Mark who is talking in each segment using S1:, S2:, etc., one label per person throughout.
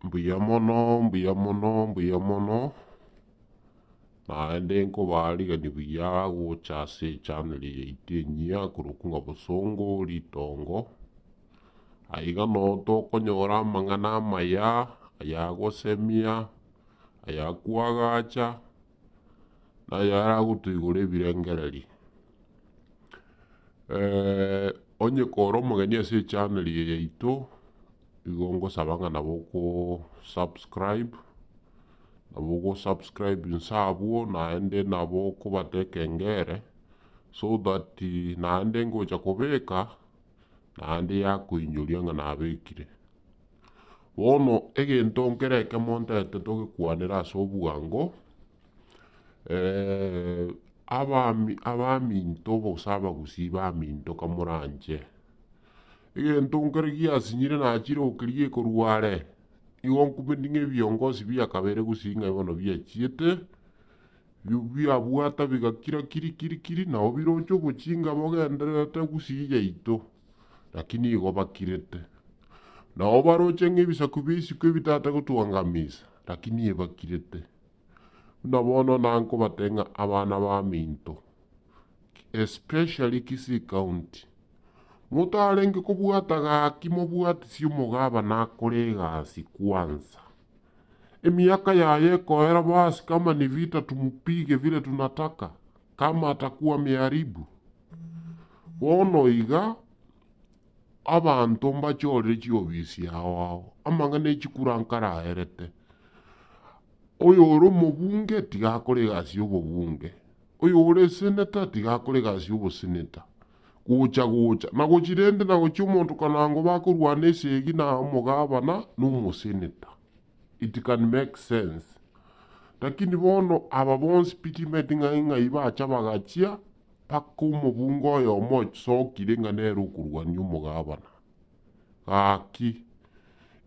S1: Mbuya mono, mbuya mono, mbuya mono, naende nkobaa rigani buya gocha ase echannel eye yaito enyia korokwa ng'a Bosongo Ritongo. Aye iga noo tokonyora amang'ana amaya ayagosemia, ayakwagacha. naye aragotoigora ebirengererio. onye kore omogeni ase echaneri eye yaito, nigo ngosaba ng'a nabo oko subscribe, nabo ogo subscribe inse abwo naende nabo okobata ekengere so that naende ngocha kobeka. naende yakoinyoria ng'a nabekire. Bono egento nkere ekemo ntaete togekwanere ase obwango, abaminto gose abagusii baminto kamoranche, egento nkere giasinyire nachire gokerigia ekorwa are, nigo nkumeti ng'a ebiongosi bia kabere gusii ng'a bono biachiete. biabwata bigakira kiri kiri kiri, nao biroche ogochinga bogendererete gusii yaito, lakini igo bakirete. Nao baroche ng'ebisaku bia isiko ebitaate gotuangamisa, lakini ebakirete. Buna bono nankobate ng'a abana baminto, especially Kisii County, motarenge kobwata gaki mobwatisie omogabane akore egasi kwanza. Emiaka yaye ekoera basi kama nivita tumupige vile tunataka, kama atakuwa miharibu. Bono iga abanto mbachorire chiofisi ao ao, amang'ana echikura nkaraerete. Oyore omobunge tiga akore egasi y'obobunge, oyore eseneta tiga akore egasi y'oboseneta. gocha-gocha, na gochia rende na gochia omonto kanango bakorwana esegi na omogabana na omoseneta. It can make sense. Lakini bono aba bonsi pitimeti ng'ai ng'ai bacha bagachia mpaka omobunge oyomo ochsokire ng'a nere okorwania omogabana. Gaki,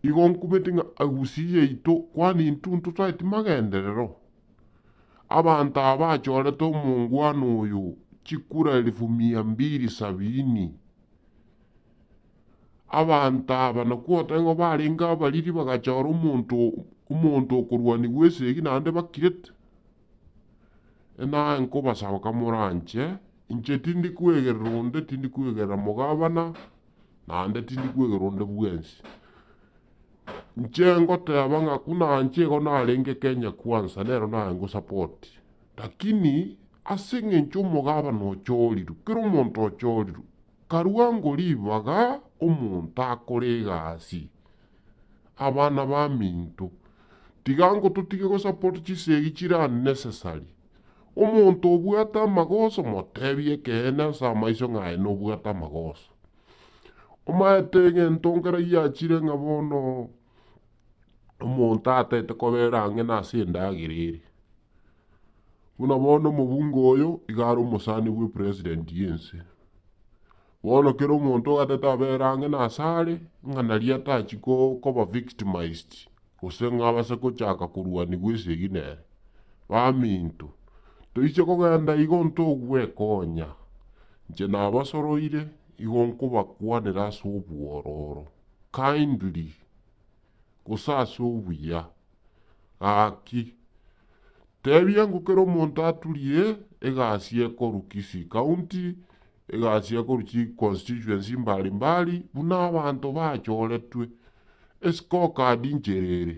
S1: igo nkumeti ng'a Agusii yaito, kwani intwe ntotaeti magenderero? Abanto aba bachorete omongwana oyo chikura elifu mia mbiri sabiini. Abanto aba nakwo otebe ng'a barenge abariri bagachora omonto omonto okorwanigwa esegi naende bakirete. Naye nkobasaba kamoranche, inche tindi kwegerera onde, tindi kwegerera omogabana, naende tindi kwegerera onde bwensi. Inche ngoteba ng'a buna inche igo narenge Kenya Kwanza nero naye ngosupport. Lakini ase eng'encho omogabana ochorirwe, kera omonto ochorirwe. Karwango ribaga omonto akore egasi, abana baminto. Tiga nko totige gosupport chisegi chire unnecessary. Omonto obwate amagoso motebie ekeene ase amaiso ng'a aye nobwate amagoso. Omaete egento nkere giachire ng'a bono omonto ataete kobera ang'e nase endagera ere. Buna bono omobunge oyo iga are omosani bwe president y'ense. Bono kera omonto ogatete abere ang'e nasare ng'a naria atachi koba victimized gose ng'a abase gochaka korwanigwa esegi nere. Baminto, toise kogenda igo ntogwekonya. Inche nabasoroire, igo nkobakwanera ase obwororo, kindly, gose ase obuya. Gaki, tebia ngokera omonto aturie egasi ekoru Kisii County, egasi ya korwa chiconstituency mbari mbari buna abanto bachoretwe escorecard inchera ere.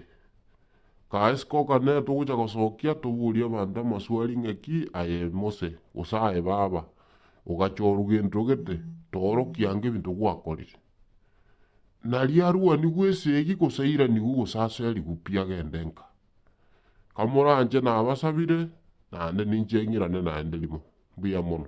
S1: Kae escorecard nere togocha gosokia toborie abanto amaswali ng'aki aye Mose gose aye baba ogachorwa gento gete toorokie ango ebinto gwakorire. Nario arwaniwe esegi gose airaniwe gose aserigwe pi agende nka. Kamoranche nabasabire naende ninche ng'irane naende rimo. Mbuya mono.